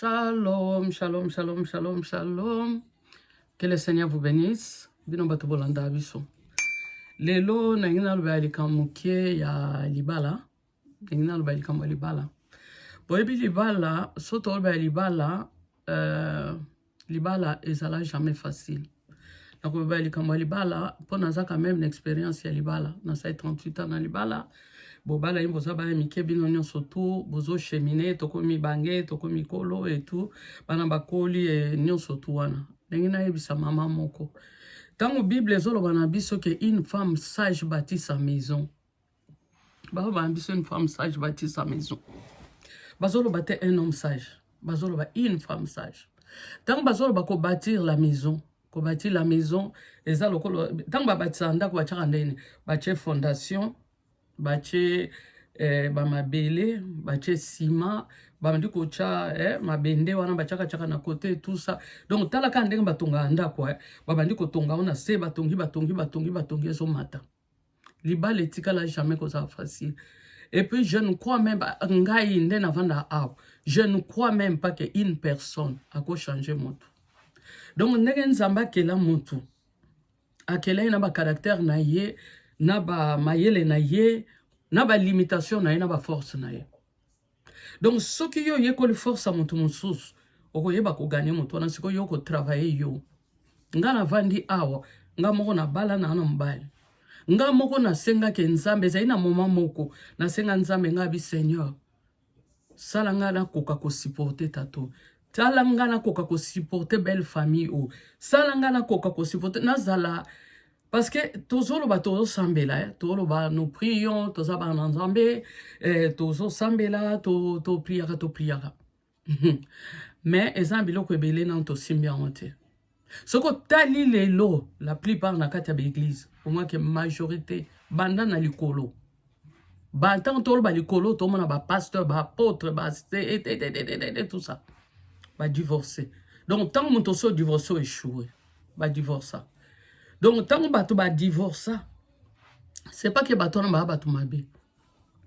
Shalom, shalom, shalom, shalom, shalom. Que le Seigneur vous bénisse. Bino bato bolanda biso. Lelo na ngina loba likambo moke ya libala. Na ngina loba likambo ya libala. Boyebi libala, soto loba ya libala, euh, libala ezala jamais facile nakoloba ya likambo ya libala mpo naza quand même na expérience ya libala nasali 38 ans na libala bobala yini boza bana mike bino nyonso tu bozochemine tokomi bange tokomi kolo etu bana bakoli e, nyonso tu wana ndenge nayebisa mama moko ntango bible ezoloba na biso ke une femme sage bâtit sa maison baloba na biso une femme sage batisa maison bazoloba te un homme sage bazoloba une femme sage ntango bazoloba kobatir la maison kobatir la maison eza lokolo ntango babatisaka ndako batyaka ndeni batye fondation batye eh, bamabele batye nsima bandi kotya eh, mabende wana batyakatyaka na kote tout ça donc talaka ndenge batongaka ndako eh, babandi kotonga ngo na se batongi batongi batongi batongi ezomata libala etikala jamais kozala facile et puis je ne crois même ngai nde navanda awa je ne crois même pas que une personne akochange motu donc ndenge nzambe akela motu akela ye na bacaractère na ye na bamayele na ye na balimitation na ye na baforce na ye donc soki yo oyekoli force ya moto mosusu okoyeba koganye moto wana sikoyo yo okotravaille yo ngai navandi awa ngai moko nabala na na mobali ngai moko nasengaki nzambe ezali na moma moko nasenga nzambe ngai bi seigneur sala ngai nakoka kosupporte tato sala ngai nakoka kosupporte belle famille oyo sala ngai nakoka kosupporte nazala Parce que tozoloba tozosambela eh? toloba nous prions toza bana na nzambe eh, tozosambela to, to priaka to priaka mais eza na biloko ebele nano tosimbi yango te soki otali lelo la plupart na kati ya baeglise omwake majorité banda na likolo ba ntango toloba likolo tomona bapasteur baapotre baste tout ça badivorce donc ntango moto osi odivorce o echoue badivorca donc ntango bato badivorca c'est pas ke bato wana baa bato mabe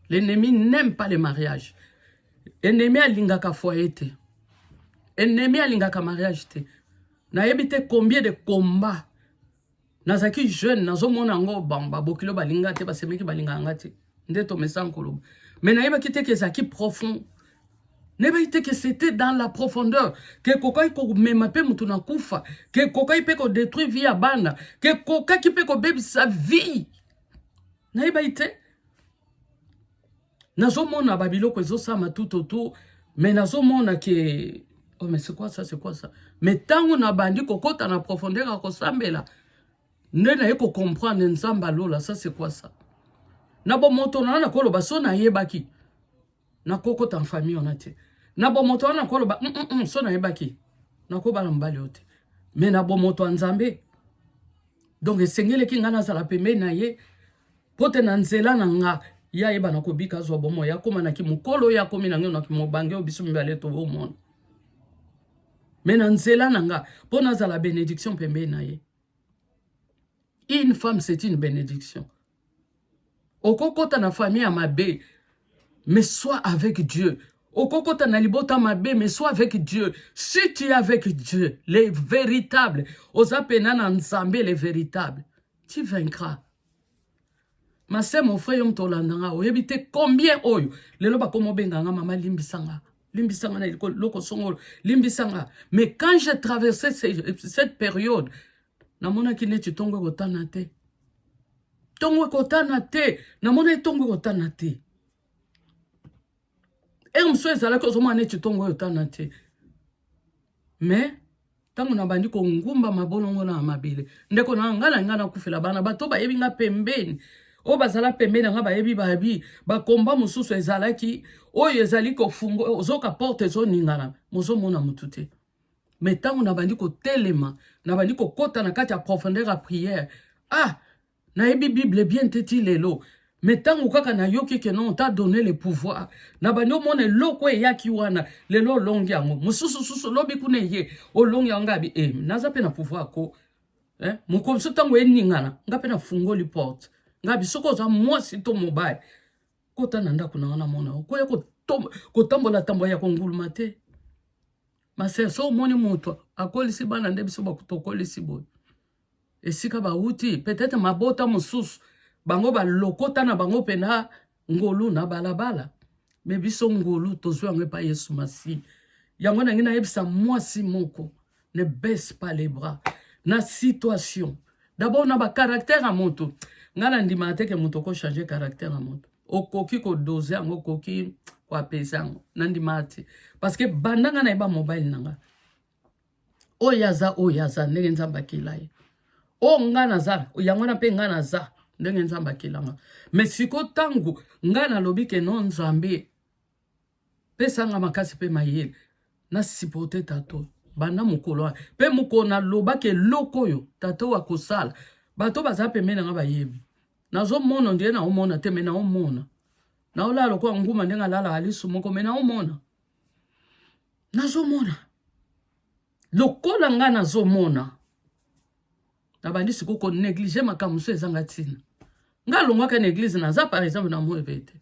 l'ennemi n'aime pas le mariage ennemi alingaka foye te ennemi alingaka mariage te nayebi te combien de combat nazalaki jeune nazomona yango bango babokilo balinga te basemeki balinga yanga te nde tomesana koloba mais nayebaki te ke ezalaki profond nayebaki te ke c'était dans la profondeur ke ekokaki komema mpe motu na kufa ke ekokaki mpe kodétruire vie ya bana ke ekokaki mpe kobebisa vie nayebaki te nazomona ba biloko ezosama tout autour mais nazomona ke oh mais c'est quoi ça c'est quoi ça mais ntango nabandi kokota na profondeur ya kosambela nde naye kocomprendre nzambe alola ça c'est quoi ça na bomoto na nakoloba so nayebaki nakokota na famille wana te na bomoto wana nakoloba mm, mm, mm, so nayebaki nakobala mobali oyo te mais na bomoto ya nzambe donc esengeleki ngai nazala pembeni na ye Mpo te na nzela na nga ye ayeba na kobika azwa bomoi akoma na kimokolo ye akomi na ngai na kimobange oyo biso mibale toomona me na nzela na nga mpo nazala benediction pembei na ye une femme c'est une benediction okokota na famille ya mabe mais soit avec dieu okokota na libota mabe mais soit avec dieu si tu es avec dieu le véritable oza pena na nzambe le véritable tu vaincras Ma sœur mon frère yo moto olanda nga oyebi te combien oyo lelo bakoma obenga nga mama limbisa nga limbisa nga na eloko songolo limbisa nga mais quand j'ai traversé cette période namonaki neti ntongo ekotana te ntongo ekotana te namonaki ntongo ekotana te ere mosusu ezalaki ozomona neti ntongo oyo otana te mais ntango nabandi kongumba mabolongo na mabele ndeko na ngai na ngai nakufela bana bato bayebi ngai pembeni oyo bazala pembeni yanga bayebi babi bakomba mosusu ezalaki oyo ezali kofungo ozoka porte ezoningana mozomona motu te me ntango nabandi kotelema nabandi kokɔta na kati ya profondeur ya priere ah Nayebi bible bien te ti lelo mais tango kaka nayoki ke non ta donne le pouvoir na bandi omona eloko eyaki wana lelo olongi yango mosusu susu lobi kuna eye olongi yango ngabi e eh, naza mpe na pouvoir ko eh? mokolo so ntango eningana nga mpe nafungoli porte ngabi soki oza mwasi to mobali kota na ndako na wana mona okoya kotambola tambola ya konguluma te masere so omoni moto akolisi bana nde biso bakutokolisi boye esika bawuti peut-être mabota mosusu bango balokota na bango mpena ngolu na balabala me biso ngolu tozwi yango epai yesu masi yango nangi nayebisa mwasi moko ne baisse pas les bras na situation d'abord na bacaractère ya moto ngai nandimaka te ke moto okochange caractère ya moto okoki kodose yango okoki koapesa yango nandimaka te parce que banda ngai nayeba mobile na ngai oyo aza oyo aza ndenge nzambe akela ye oyo ngai naza yango wana mpe ngai naza ndenge nzambe akelanga me siko ntango ngai nalobi ke no nzambe pesanga makasi mpe mayele na supporte tato banda mokolo wana mpe mokolo nalobaki eloko oyo tato oyo akosala bato baza pembeni nanga bayebi nazomona ndenge naomona te me naomona naolala lokola nguma ndenge alalaka lisu moko me naomona nazomona lokola ngai nazomona nabandi sikoyo koneglige makambo mosusu ezanga ntina ngai alongwaka na eglize naza par exemple na moyebe te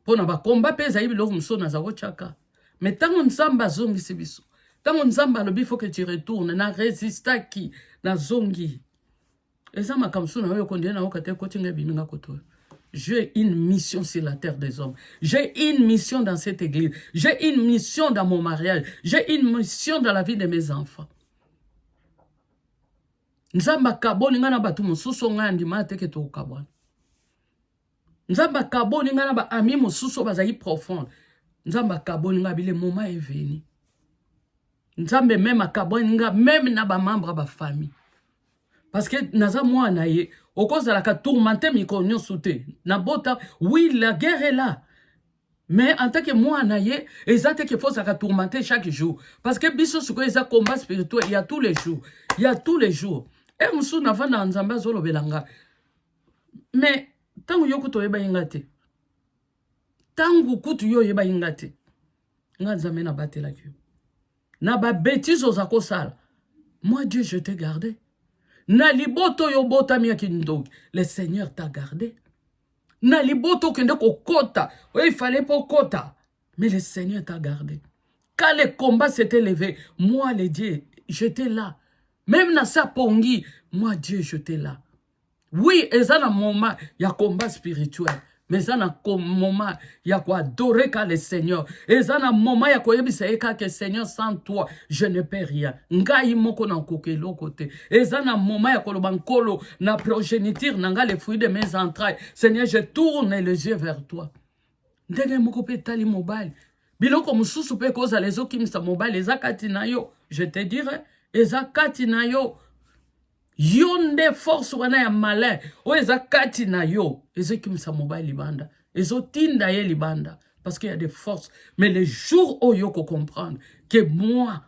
mpo na bakomba mpe ezali biloko mosusu naza kotyaka me ntango nzambe azongisi biso ntango nzambe alobi fo ke tu retourne na resistaki nazongi eza makambo so na oyo kondie na oka te ekoti nga ebimi nga koto oyo J'ai une mission sur la terre des hommes. J'ai une mission dans cette église. J'ai une mission dans mon mariage. J'ai une mission dans la vie de mes enfants. nzambe akaboli ngai na bato mosusu ngai andimaka te ke tokokabwana Nzambe akaboli nga na ba amis mosusu bazali profonde. Nzambe akaboli nga bile moment est venu. Nzambe meme akaboli nga meme na ba membres ba famille. Parce que naza mwana ye okozalaka tourmente mikolo nyonso te. Na bota oui la guerre est là. Mais en tant que mwana ye eza te qu'il faut zaka tourmente chaque jour. Parce que biso siko eza combat spirituel ya tous les jours. Ya tous les jours. Et eh, musu na vanda nzambe azolobela nga. mais ntango yo kutu oyebaki nga te ntango kutu yo oyebaki nga te nga nzambe nabatelaki yo na babetise oza kosala moi dieu je te garde na libota oyo obotami ya kindoki le seigneur ta garde na libota okende kokota oyo ifale mpo okota mais le seigneur ta garde quand le combat s'était levé moi le dieu j'étais là même na sa pongi moi dieu j'étais là Oui, eza na moment ya combat spirituel. Mais eza na moment ya ko adorer ka le Seigneur. Eza na moment ya koyebisa ye kaka Seigneur sans toi je ne peux rien. Ngai moko na koka eloko te. Eza na moment ya koloba nkolo na progéniture na ngai le fruit de mes entrailles. Seigneur, je tourne les yeux vers toi. Ndenge moko pe tali mobali. Biloko mususu pe kozala ezokimisa mobali eza kati na yo. Je te dirai eza kati na yo. yo nde force wana ya malin oyo eza kati na yo ezokimisa mobali libanda ezotinda ye libanda parce qu'il y a des forces mais le jour oyo okokomprendre ke moi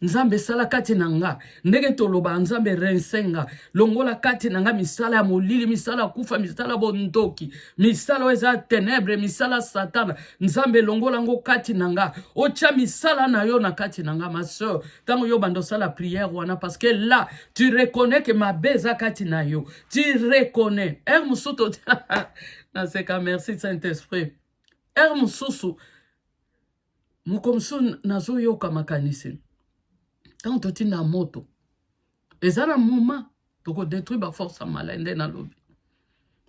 nzambe esala kati na nga ndenge toloba nzambe rense nga longola kati na nga misala ya molili misala ya kufa misala ya bondoki misala oyo eza ya tenebre misala satana nzambe longola yango kati na nga otya misala na yo na kati na nga ma soeur Tango yo bando sala prière wana parce que là tu reconnais que ma beza kati na yo. Tu reconnais. Er musuto na seka merci Saint-Esprit. Er mususu mukomsu nazo yoka makanisi. Tango totinda moto. Eza na moment toko detruire ba force ya malai nde nalobi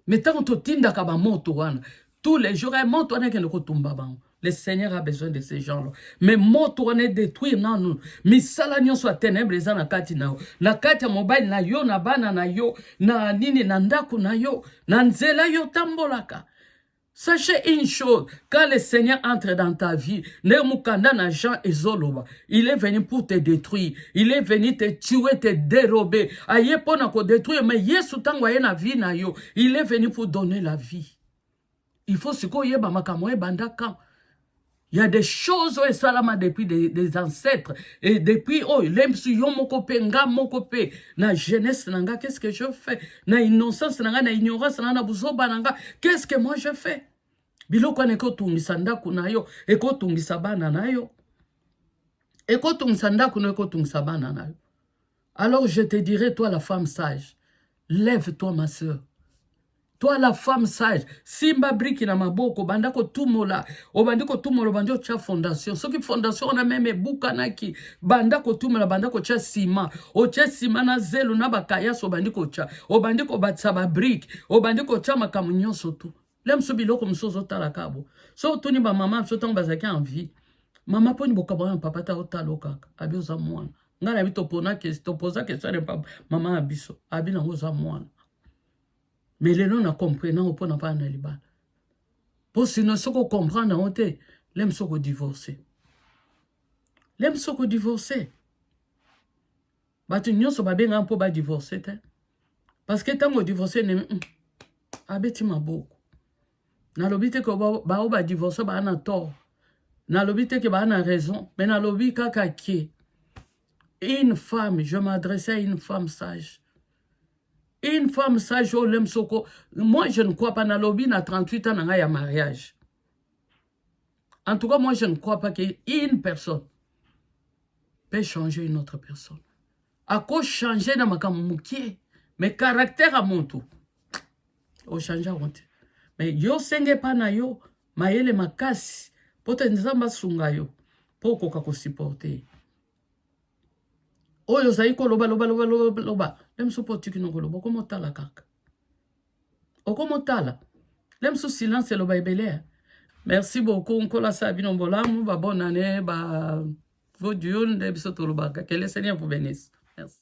me ntango totindaka bamoto wana tous les jours eh, moto wana ekende kotumba bango le seigneur a besoin de ce genre là mais moto wana edetruire nanu misala nyonso ya tenebre eza na kati na yo na kati ya mobali na yo na bana na yo na nini na ndako na yo na nzela yo otambolaka Sachez une chose, quand le Seigneur entre dans ta vie, le mukanda na Jean et Zoloba, il est venu pour te détruire, il est venu te tuer, te dérober, aye pona ko détruire, mais Yesu tango aye na vie na yo, il est venu pour donner la vie. Il faut siko yeba makamwe banda quand Il y a des choses oyo esalama depuis des, des ancêtres et depuis oyo oh, lemsu yo moko pe nga moko pe na jeunesse na nga qu'est-ce que je fais na innocence na nga na ignorance na nga na buzoba na nga qu'est-ce que moi je fais biloko wana ekotungisa ndako na yo ekotungisa bana na yo ekotungisa ndako na yo ekotungisa bana na yo Alors je te dirai toi la femme sage, lève toi ma soeur. Toi la femme sage, simba briki na maboko, banda ko tumola, obandi ko tumola, obandi otia fondation. Soki fondation wana meme ebukanaki, banda ko tumola, banda ko tia sima, otia sima na zelo na bakayas obandi ko tia, obandi ko batisa ba briki, obandi ko tia makambo nyonso tu. lelo mosusu biloko mosusu ozotala kaka bo so otuni bamama biso ntango bazalaki en vie mama mponi bokabwana na papa ta otala o kaka abi oza mwana ngai nayebi topona topoza question ya papa mama na biso abi nango oza mwana me lelo na comprena yango mpo na bana na libala mpo sino soki okomprendre yango te lem soki odivorce lem soki odivorce bato nyonso babengaka mpo badivorce te parce que ntango odivorce nemi mm, abeti maboko nalobi te ke bao badivorce baa na tort nalobi te ke baa na raison mais nalobi kaka ke une femme je m'adresse à une femme sage une femme sage oyo lem soko moi je ne crois pas nalobi na 38 ans na ngai ya mariage En tout cas, moi, je ne crois pas qu'une personne peut changer une autre personne. À cause changer dans ma moukier, mais caractère à mon tour. Au changer honte. Mais yo senge pas na yo, mayele makasi, pote nzamba sunga yo, po koka ko supporter. Oyo zai ko loba loba loba loba loba. Même si po tiki no ko loba ko motala kaka. okomo tala lem su silence eloba ebele eh. Merci beaucoup nkolo asala bino bolamu ba bonne année ba good yule nde biso tolobaka que le seigneur vous bénisse merci